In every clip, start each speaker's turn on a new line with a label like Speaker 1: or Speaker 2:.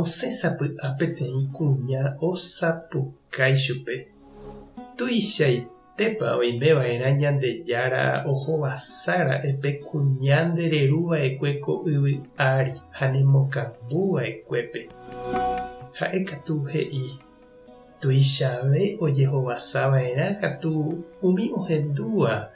Speaker 1: Osẽ sapy'a peteĩ kuña osapukái chupe, Tuichaitépa oimeva'erã Ñandejára ohovasára'e pe kuña ndereruva'ekue ko yvy ári ha nemokambuva'ekuépe? Ha'e katu he'i, Tuichave ojehovasava'erã katu umi ohendúva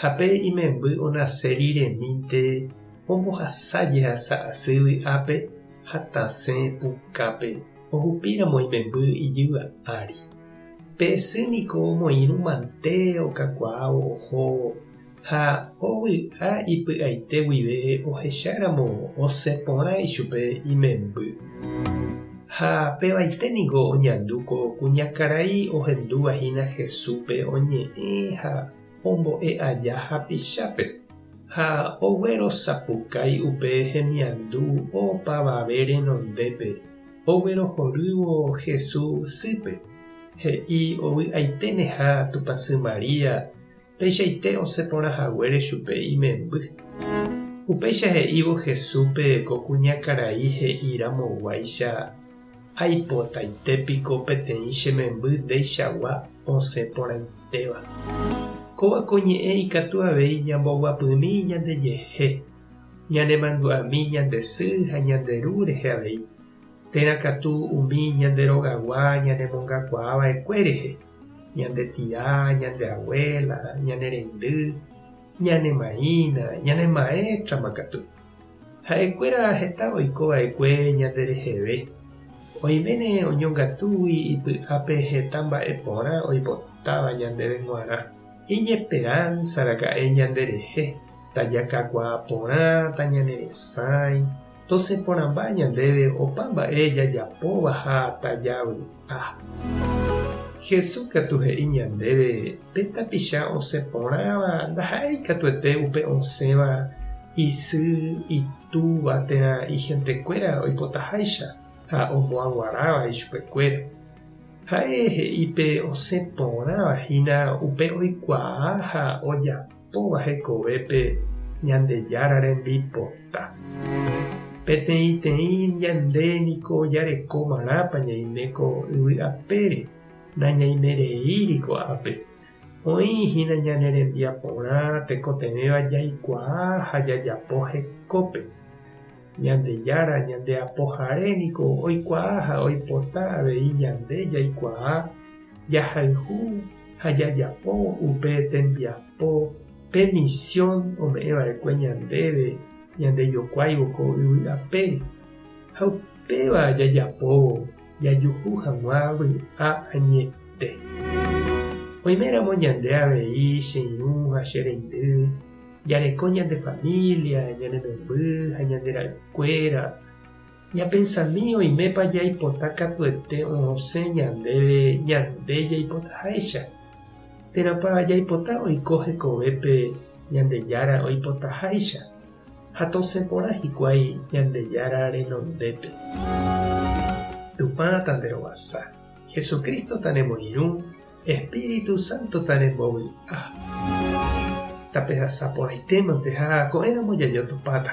Speaker 1: Ha pe imemby onase riremínte ombohasa jehasa asy vy'ápe ha tasẽ pukápe ohupíramo imemby ijyva ári. Pe sy niko omoirũ mante okakuaávo oho ha ovy'a ipy'aite guive ohecháramo osẽ porã ichupe imemby. Ha pevaite niko oñandu ko kuñakarai ohendúva hína Jesúspe oñe'ẽ ha ombo'e aja hapichápe, ha oguerosapukái upe hemiandu opavave renondépe oguerohorývo Jesús sýpe, he'i ovy'aiteneha Tupãsy María, Peichaite osẽ porã haguére chupe imemby. Upéicha he'ívo Jesúspe ko kuñakarai he'i ramoguáicha, Aipotaite piko peteĩ che memby ndeichagua osẽ porãitéva. Kóva ko ñe'ẽ ikatu avei ñamboguapymi ñandejehe, ñanemandu'ami ñande sy ha ñande ru rehe avei, térã katu umi ñande rogagua ñanemongakuaa va'ekue rehe. ñande tia, ñande abuela, ñane reindy, ñane maína, ñane maétrama katu. Ha'ekuéra heta oiko va'ekue ñande reheve. Oiméne oñongatúgui ipy'ápe heta mba'e porã oipotáva ñandéve g̃uarã. Iñesperánsa raka'e ñande rehe, tajakakuaa porãta, ñane resãi, Tose porãmba ñandéve opa mba'e jajapóva ha tajavy'a. Jesús katu he'i ñandéve pe tapicha osẽ porãva ndaha'éi ikatuete upe osẽva isy, itúva térã ihentekuéra oipotaháicha ha omoaguaráva ichupekuéra. Ha'e he'i pe osẽ porãva hína upe oikuaa ha ojapo. Kóva hekovépe Ñandejára rembipota. Peteĩteĩ ñande niko jareko marãpa ñaime ko yvy apére, nañaime reíri ko'ápe. Oĩ hína ñane rembiaporã tekotevẽva jaikuaa ha jajapo hekópe. Ñandejára Ñandeapohare niko oikuaa ha oipota avei ñande jaikuaa jahayhu ha jajapo upe tembiapo pe misiõ ome'ẽ va'ekue ñandéve ñandejokuáivo ko yvy ape. Ha upéva jajapóvo jajuhu hag̃ua vy'a añete. Oiméramo ñande avei che irũ ha che reindy, Jareko ñande família, ñane memby ha ñande ra'ykuéra. Ñapensami oimépa jaipota katuete osẽ ñandéve ñande jaipotaháicha. Térãpa jaipota oiko hekovépe Ñandejára oipotaháicha, ha tosẽ porã hikuái Ñandejára renondépe. Tupã tanerovasa, Jesucristo tanemoirũ. Espíritu Santo tarembovy'a. Tapehasa porãitéma peha ko'ẽramo jajotopáta.